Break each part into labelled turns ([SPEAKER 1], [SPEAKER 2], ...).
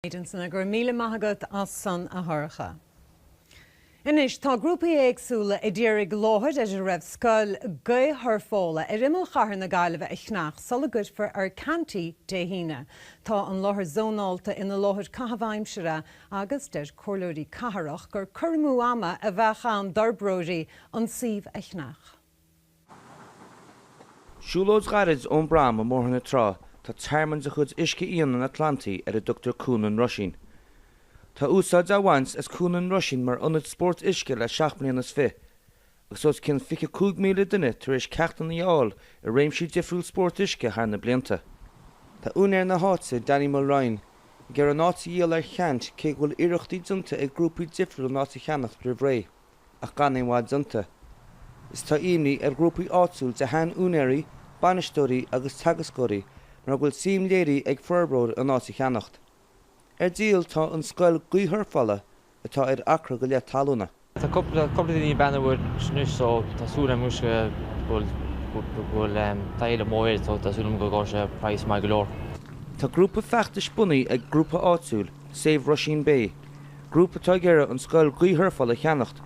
[SPEAKER 1] Ansin, go raibh míle maith agat as sin a Shorcha. Anois, tá grúpaí éagsúla ag iarraidh láthair ar a raibh scoil gaothshurfála ar imeall chathair na Gaillimhe a cheannacht sula gcuirfear ar ceant Dé hAoine. Tá an láthair zónálta ina láthair caitheamh aimsire agus deir comhairleoirí cathrach gur cur amú ama a bheadh ann d'fhorbróirí an suíomh a cheannacht.
[SPEAKER 2] Siúlóid ghairid ón bProm i mBóthar na Trá tá tearmann de chuid uisce fiáin an Atlantaigh ar a dtugtar Cuan an Roisín. Tá úsáid á bhaint as Cuan an Roisín mar ionad spóirt uisce le seacht mbliana is fiche, agus os cionn 25,000 duine tar éis ceachtanna a fháil i réimsí difriúla spóirt uisce thar na blianta. Tá úinéir na háite, Danny Mulryan, ag iarraidh an áit a dhíol ar cheant cé go bhfuil iarrachtaí déanta ag grúpaí difriúla an áit a cheannacht roimh ré. ach gan aon mhargadh déanta. Is tá imní ar ghrúpaí áitiúil de sheanúinéirí, bainisteoirí agus teagascóirí mar go bhfuil suim léirithe ag forbróir an áit a cheannacht. Ar díol tá an scoil gaothshurfála atá ar acra go leith talúna. Tá
[SPEAKER 3] cúpla daoine ag breathnú air anois so tá súil agam anois go bhfuil taithí le maith air so tá súil agam go ngabhfaidh sé praghas maith go leor. Tá grúpa
[SPEAKER 2] feachtais bunaithe ag grúpa áitiúil, Save Rusheen Bay, Grúpa atá ag iarraidh an scoil gaothshurfála a cheannacht,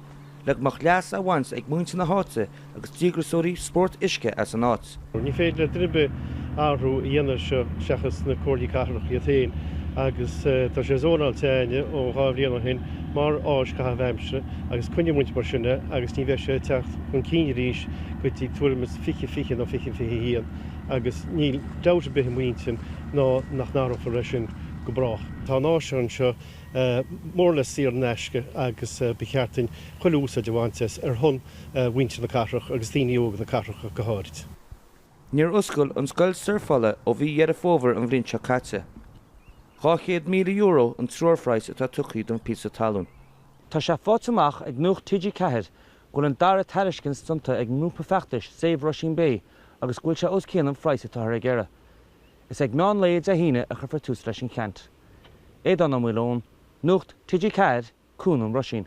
[SPEAKER 2] le go mbeadh leas á bhaint ag muintir na háite agus díograsóirí spóirt uisce as an áit. Ní féidir le duine ar bith
[SPEAKER 4] athrú a dhéanamh ar seo seachas na Comhairleoirí Cathrach iad féin agus tá sé zónáilte againn ó dhá bhliain ó shin mar áis caitheamh aimsire agus coinneoidh muid mar sin é agus ní bheidh sé ag teacht chun cinn arís go dtí tuairim is fiche fiche nó fiche fiche haon agus níl dabht ar bith i m'intinn ná nach n-athrófar é sin go brách. Tá an áis anseo. mór le saor in aisce agus ba cheart dúinn chuile úsáid a bhaint as ar shon mhuintir na cathrach agus daoine óga na cathrach ach go háirid. Níor
[SPEAKER 2] oscail an scoil surfála ó mhí Dheireadh Fómhair an bhliain seo caite. €200,000 an treoirphraghas atá tugtha don phíosa talún. Tá sé
[SPEAKER 3] faighte amach ag Nuacht TG4 go bhfuil an dara tairiscint déanta ag an ngrúpa feachtais Save Rusheen Bay agus go bhfuil sé os cionn an phraghas atáthar ag iarraidh. Is ag meán lae Dé hAoine a chuirfear tús leis an gceant. Éadaoin Ní Mhaoileoin, Nuacht TG4, Cuan an Roisín.